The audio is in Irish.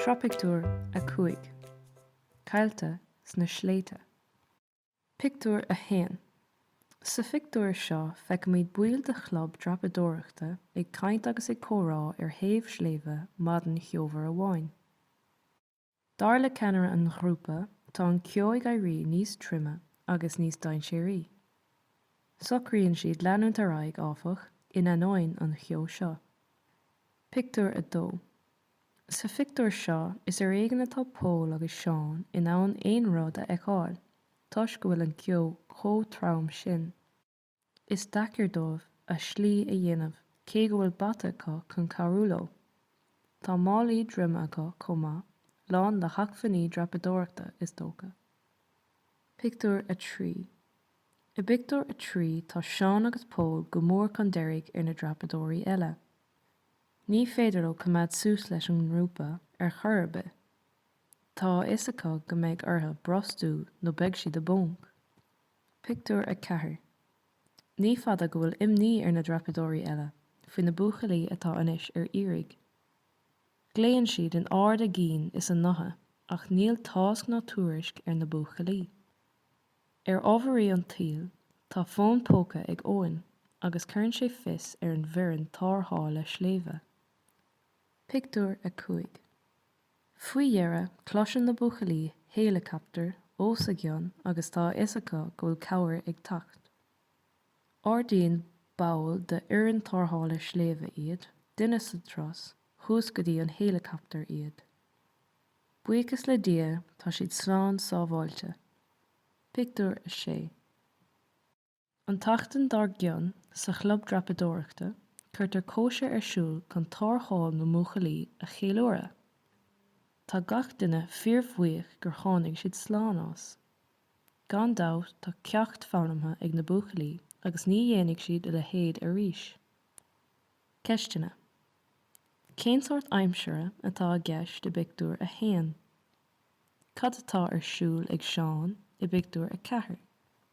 Sraith Pictiúr 5 Caillte sna sléibhte Pictiúr 1 Sa phictiúr seo feicimid baill de chlub dreapadóireachta ag caint agus ag comhrá ar thaobh sléibhe maidin cheomhar amháin. Dar le ceannaire an ghrúpa, tá an ceo ag éirí níos troime agus níos dainséaraí. Socraíonn siad leanúint ar aghaidh, áfach, in ainneoin an cheo seo. Pictiúr 2 Sa phictiúr seo, is ar éigean atá Pól agus Seán in ann aon rud a fheiceáil toisc go bhfuil an ceo chomh trom sin. Is deacair dóibh a slí a dhéanamh cé go bhfuil bata acu chun cabhrú leo. Tá málaí droime acu chomh maith, lán le hacmhainní dreapadóireachta is dócha. Pictiúr 3 I bpictiúr a trí tá Seán agus Pól go mór chun deiridh ar na dreapadóirí eile. Ní féidir leo coimeád suas leis an ngrúpa ar chor ar bith. Tá a fhios acu go mbeidh orthu brostú nó beidh siad i bponc. Pictiúr 4 Ní fada go bhfuil imní ar na dreapadóirí eile faoi na buachaillí atá anois ar iarraidh. Glaonn siad in ard a gcinn is a ngutha ach níl tásc ná tuairisc ar na buachaillí. Ar ámharaí an tsaoil, tá fón póca ag Eoin agus cuireann sé fios ar an bhfoireann tarrthála sléibhe. Pictiúr 5. Faoi dheireadh, cloiseann na buachaillí héileacaptar os a gcionn agus tá a fhios acu go bhfuil cabhair ag teacht. Ardaíonn ball d'fhoireann tarrthála sléibhe iad, duine sa tros, thuas go dtí an héileacaptar iad. Buíochas le Dia tá siad slán sábháilte. Pictiúr 6. An tseachtain dár gcionn, sa chlub dreapadóireachta, cuirtear cóisir ar siúl chun tarrtháil na mbuachaillí a cheiliúradh. Tá gach duine fíorbhuíoch gur tháinig siad slán as. Gan dabht tá ceacht foghlamtha ag na buachaillí agus ní dhéanfaidh siad a leithéid arís. Ceisteanna, Cén sórt aimsire atá i gceist i bpictiúr a haon? Cad atá ar siúl ag Seán i bpictiúr a ceathair?